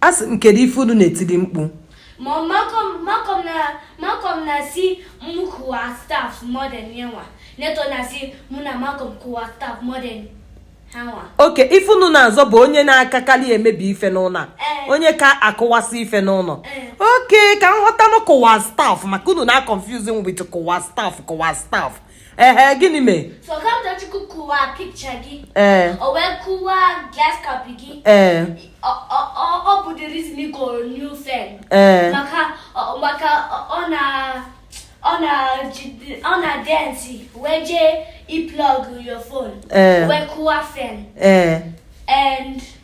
a sị m kedu ife unu na-etili mkpu Mom Malcolm Malcolm na Malcolm na-asị m kụwa stuff more than yanwa. Neto na-asị mụ na Malcolm kụwa stuff more than hanwa. okay ife unu na-azọ bụ onye na-akakalị emebi ife n'ụlọ a Ee. onye ka akụwasị ife n'ụlọ Ee. okay ka m ghọtanụ kụwa stuff maka unu na-confuse m with kụwa stuff kụwa stuff ehe gịnị mee So Kamtochukwu kụwa picture gị. ee O wee kụwa glass cup gị. ee Ọ- ọ- ọ- Ọ bụ the reason ị goro new fan. ee Maka ọ- maka ọ- ọ na ọ na jide- ọ na-dance wee jee i-plug your phone. ee Wee kụwa fan. ee And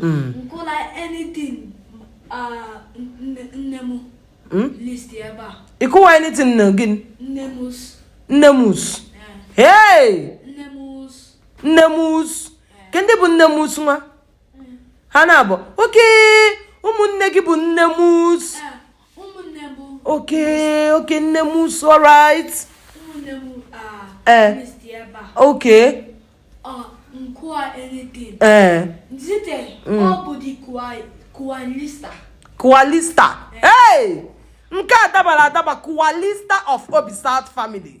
Mm. M kụwa anything uh, nne m hmm? list ebe a. Ị kụwa anything nne gị? Nne m us. Nne m us. Eh. Hey! Nne m us. Nne m us. Eh. Kee ndị bụ nne m us nwa? Eh. Ha naabọ okay ụmụnne gị bụ nne m us. Okay, okay, nne m so right. Nne m ah. Eh. Okay. Ah, nkwa anything. Eh. Zite, mm. ọ bụ di Kualista. Kualista. Eh. Hey! Nke a dabara adaba Kualista of Obi South family.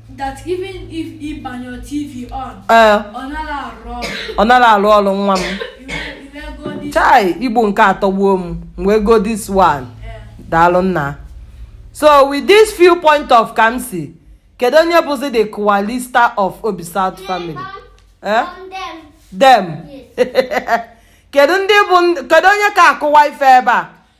that even if ị gbanye tv on ee ọ naghị arụ ọrụ ọ nara arụ ọrụ nwa m iwegodi chai igbo nke a atọgbuo m m wee go this one daalụ nna so with this few point of Kamsi kedu onye bụzi the kụwalista of obi south family eh? From them. dem kedu ndị bụ ndị- kedu onye ka akụwa ife ebe a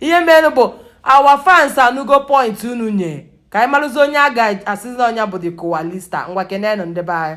ihe mere bụ our fans anugo point unu nye ka anyị marụzi onye a ga-asịzi na ọ nya bụ the kụwalista ngwa kenenụ ndị be anyị